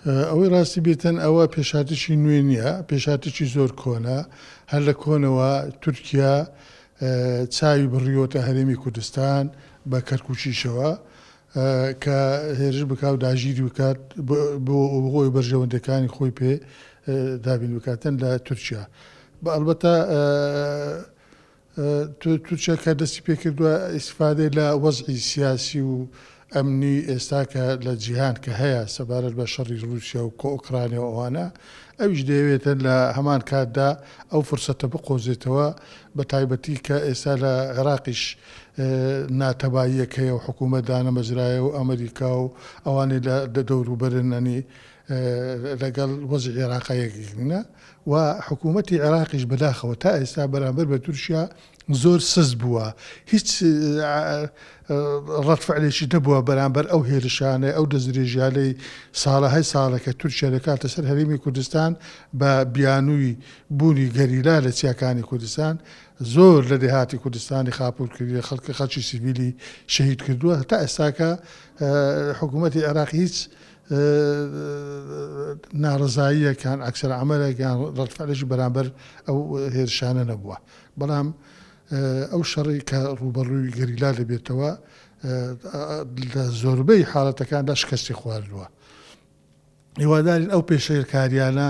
ئەوەی ڕاستی بێتن ئەوە پێشهاتێکی نوێ نییە، پێشهاتێکی زۆر کۆنە، هەر لە کۆنەوە تورکیا چاوی بڕیوەتە هەرێمی کوردستان بە کەرکوکیشەوە کە هێرش بکا و داگیری بکات بۆ ئەوەی بەرژەوەندەکانی خۆی پێ دابین بکاتن لە تورکیا بە ئەلبەتە تورکیا کە دەستی پێکردوە ئیستیفادەی لە وەزعی سیاسی و ئەمنی ئێستا کە لە جیهان کە هەیە سەبارەت بە شەڕی ڕوسیا و ئۆکرانیا و ئەوانە ئەویش دەیەوێتن لە هەمان کاتدا ئەو فرسەتە بقۆزێتەوە بە تایبەتی کە ئێستا لە عێراقیش ناتەباییەک هەیە و حکوومەت دانەمەزرایە و ئەمریکا و ئەوانەی لە دەوروبەرن ئەنی لەگەڵ وەزی عێراقا یەکگرنە و حکوومەتی عێراقیش بەداخەوە تا ئێستا بەرامبەر بە تورکیا زۆر سست بووە، هیچ ڕەدفعلێکی نەبووە بەرامبەر ئەو هێرشانەی، ئەو دەستدرێژییانەی ساڵەهای ساڵە کە تورکیا دەکاتە سەر هەرێمی کوردستان بە بیانووی بوونی گەریلا لە چیاکانی کوردستان، زۆر لە دێهاتی کوردستانی خاپوور کردووە، خەڵک خەڵکی سیڤیلی شەهید کردووە، تا ئێستاکە حکوومەتی عێراق هیچ ناڕەزاییەکان، عەکسەلعەمەلەکان، ڕەدفعلێکی بەرامبەر ئەو هێرشانە نەبووە، بەڵام ئەو شەڕی کە ڕووبەڕووی گەریلا دەبێتەوە لە زۆربەی حاڵەتەکاندا شکستی خواردووە. هیوادارین ئەو پێشێلکارییانە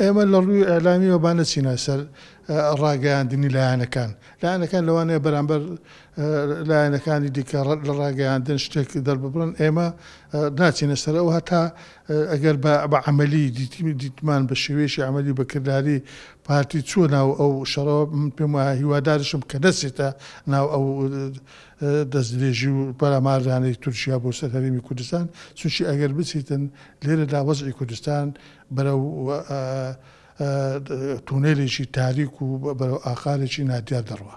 ئێمە لە ڕووی ئیعلامییەوە با نەچینە سەر ڕاگەیاندنی لایەنەکان، لایەنەکان لەوانەیە بەرامبەر لایەنەکانی دیکە لە ڕاگەیاندن شتێک دەرببڕن، ئێمە ناچینە سەر ئەوە هەتا ئەگەر بە عەمەلی دیتمان بە شێوەیەکی عەمەلی بە کرداری پارتی چووە ناو ئەو شەڕەوە، من پێم وایە هیوادارشم کە نەچێتە ناو ئەو دەستدرێژی و پەلاماردانەی تورکیا بۆ سەر هەرێمی کوردستان، چونکی ئەگەر بچیتن لێرەدا وەزعی کوردستان بەرەو تونێلێکی تاریک و بەرەو ئاقارێکی نادیار دەڕوا.